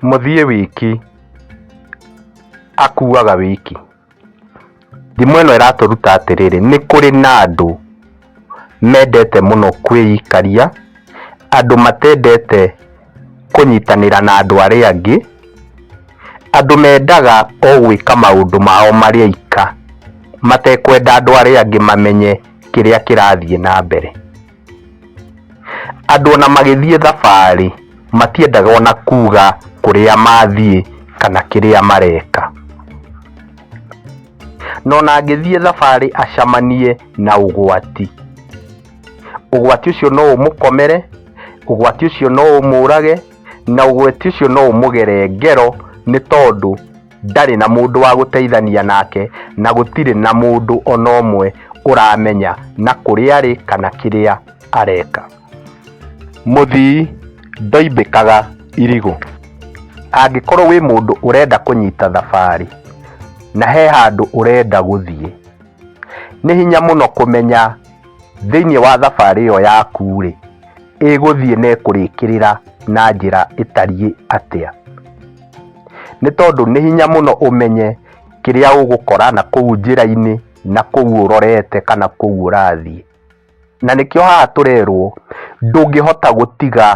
Mũthiĩ wiki akuaga wiki. Thimo ĩno ĩratũruta atĩrĩrĩ, nĩ kũrĩ na andũ mendete mũno kwĩikaria, andũ matendete kũnyitanĩra na andũ arĩa angĩ, andũ mendaga o gwĩka maũndũ mao marĩ aika matekwenda andũ arĩa angĩ mamenye kĩrĩa kĩrathiĩ na mbere. Andũ ona magĩthiĩ thabarĩ matiendaga ona kuga kũrĩa mathiĩ kana kĩrĩa mareka. Na ona angĩthiĩ thabarĩ acemanie na ũgwati, ũgwati ũcio no ũmũkomere, ũgwati ũcio no ũmũrage, na ũgwati ũcio no ũmũgere ngero nĩ tondũ... ndarĩ na mũndũ wa gũteithania nake, na gũtirĩ na mũndũ o na ũmwe ũramenya na kũrĩa arĩ kana kĩrĩa areka. Mũthii ndoimbĩkaga irigũ. Angĩkorwo wĩ mũndũ ũrenda kũnyita thabarĩ na he handũ ũrenda gũthiĩ, nĩ hinya mũno kũmenya thĩiniĩ wa thabarĩ ĩyo yaku-rĩ, ĩgũthiĩ na ĩkũrĩkĩrĩra na njĩra ĩtariĩ atĩa. nĩ tondũ nĩ hinya mũno ũmenye kĩrĩa ũgũkora na kũu njĩra-inĩ na kũu ũrorete kana kũu ũrathiĩ. Na nĩkĩo haha tũrerwo ndũngĩhota gũtiga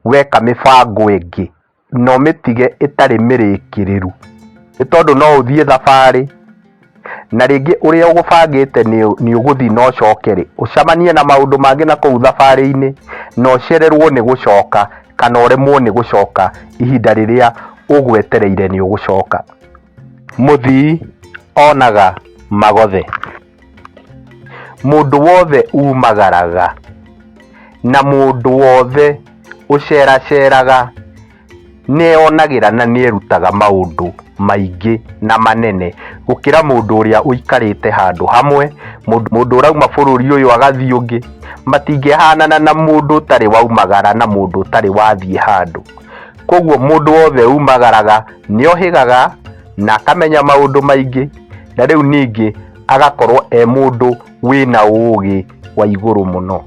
weka mĩbango ĩngĩ na ũmĩtige ĩtarĩ mĩrĩkĩrĩru, nĩ tondũ no ũthiĩ thabarĩ. Na rĩngĩ ũrĩa ũgũbangĩte nĩ ũgũthiĩ na ũcoke-rĩ, ũcemanie na maũndũ mangĩ na kũu thabarĩ-inĩ, na ũcererũo nĩ gũcoka kana ũremwo nĩ gũcoka ihinda rĩrĩa ũgwetereire nĩ ũgũcoka. Mũthii onaga magothe. Mũndũ wothe umagaraga. Na mũndũ wothe ũceraceraga. nĩeyonagĩra na nĩerutaga maũndũ maingĩ na manene gũkĩra mũndũ ũrĩa ũikarĩte handũ hamwe mũndũ mũndũ ũrauma bũrũri ũyũ agathiĩ ũngĩ matingĩhanana na mũndũ ũtarĩ waumagara na mũndũ ũtarĩ wathiĩ handũ koguo mũndũ wothe umagaraga nĩohĩgaga na akamenya maũndũ maingĩ na rĩu ningĩ agakorwo e mũndũ wĩna ũũgĩ wa igũrũ mũno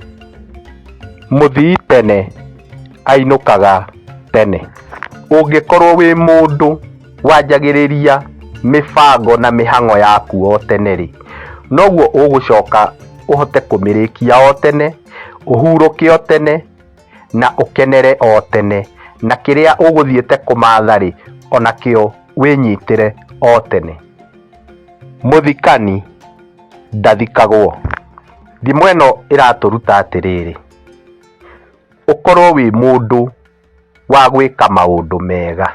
mũthii tene ainũkaga tene. Ũngĩkorwo wĩ mũndũ wanjagĩrĩria mĩbango na mĩhang'o yaku o tene-rĩ, noguo ũgũcoka ũhote kũmĩrĩkia o tene, ũhurũke o tene, na ũkenere o tene, na kĩrĩa ũgũthiĩte kũmatha-rĩ, onakĩo wĩnyitĩre o tene. Mũthikani ndathikagwo. Ndimwa ĩno ĩratũruta atĩrĩrĩ. ũkorwo wĩ mũndũ wa gwĩka maũndũ mega.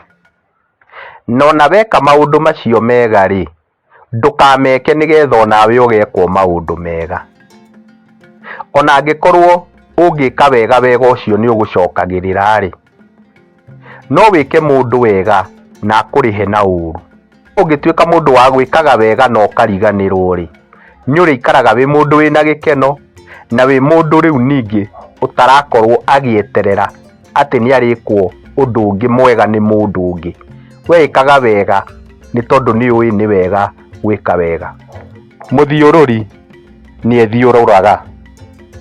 Na ona weka maũndũ macio mega rĩ, ndũkameke nĩgetha onawe ũgekwo maũndũ mega. Ona angĩkorwo ũngĩka wega wega ũcio nĩ ũgũcokagĩrĩra rĩ. no wĩke mũndũ wega na akũrĩhe na ũũru ũngĩtuĩka mũndũ wa gwĩkaga wega na ũkariganĩrwo rĩ nĩũrĩikaraga wĩ mũndũ wĩna gĩkeno na wĩ mũndũ rĩu ningĩ ũtarakorwo agĩeterera atĩ nĩarĩkwo ũndũ ũngĩ mwega nĩ mũndũ ũngĩ weĩkaga wega nĩ tondũ nĩũĩ nĩ wega gwĩka wega mũthiũrũri. nĩethiũrũraga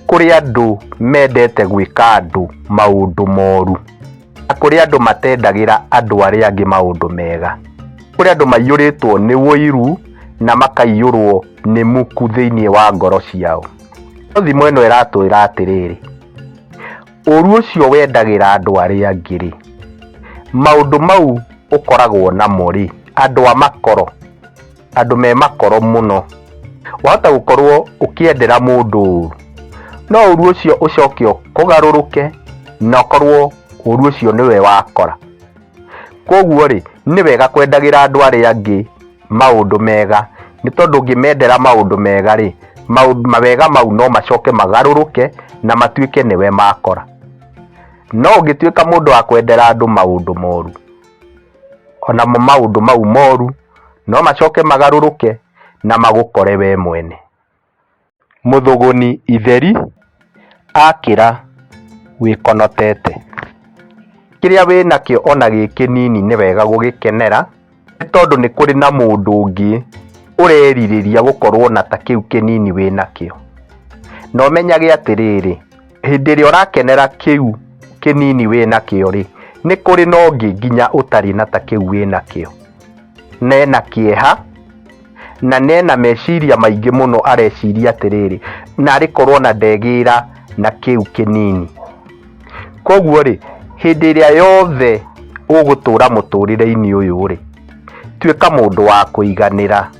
kũrĩ andũ mendete gwĩka andũ maũndũ moru, na kũrĩ andũ matendagĩra andũ arĩa angĩ maũndũ mega, kũrĩ andũ maiyũrĩtwo nĩ ũiru na makaiyũrwo nĩ muku thĩinĩ wa ngoro ciao. No thimo ĩno ĩratwĩra atĩrĩrĩ, ũru ũcio wendagĩra andũ arĩa angĩ rĩ, maũndũ mau ũkoragwo namo rĩ, andũ a makoro, andũ me makoro mũno wahota gũkorwo ũkĩendera mũndũ ũru no ũru ũcio ũcoke ũkũgarũrũke na ũkorwo ũru ũcio nĩwe wakora kwoguo rĩ nĩ wega kwendagĩra andũ arĩa angĩ maũndũ mega nĩ tondũ ũngĩmendera maũndũ mega rĩ maũndũ mawega mau no macoke magarũrũke na matuĩke nĩwe makora no ũngĩtuĩka mũndũ wa kwendera andũ maũndũ moru onamo maũndũ mau moru no macoke magarũrũke na magũkore wee mwene. Mũthũgũni itheri akĩra wĩkonotete. Kĩrĩa wĩ nakĩo o na gĩ kĩnini nĩ wega gũgĩkenera, nĩ tondũ nĩ kũrĩ na mũndũ ũngĩ ũrerirĩria gũkorũo na ta kĩu kĩnini wĩ nakĩo. Na ũmenyage atĩrĩrĩ, Hĩndĩ ĩrĩa ũrakenera kĩu kĩnini wĩ nakĩo rĩ, nĩ kũrĩ na ũngĩ nginya ũtarĩ na ta kĩu wĩ nakĩo. Na ena kĩeha, na nĩ ena meciria maingĩ mũno areciria atĩrĩrĩ, narĩ korwo na ndegĩra na kĩu kĩnini. Koguo rĩ, hĩndĩ ĩrĩa yothe ũgũtũra mũtũrĩre-inĩ ũyũ rĩ, tuĩka mũndũ wa kũiganĩra.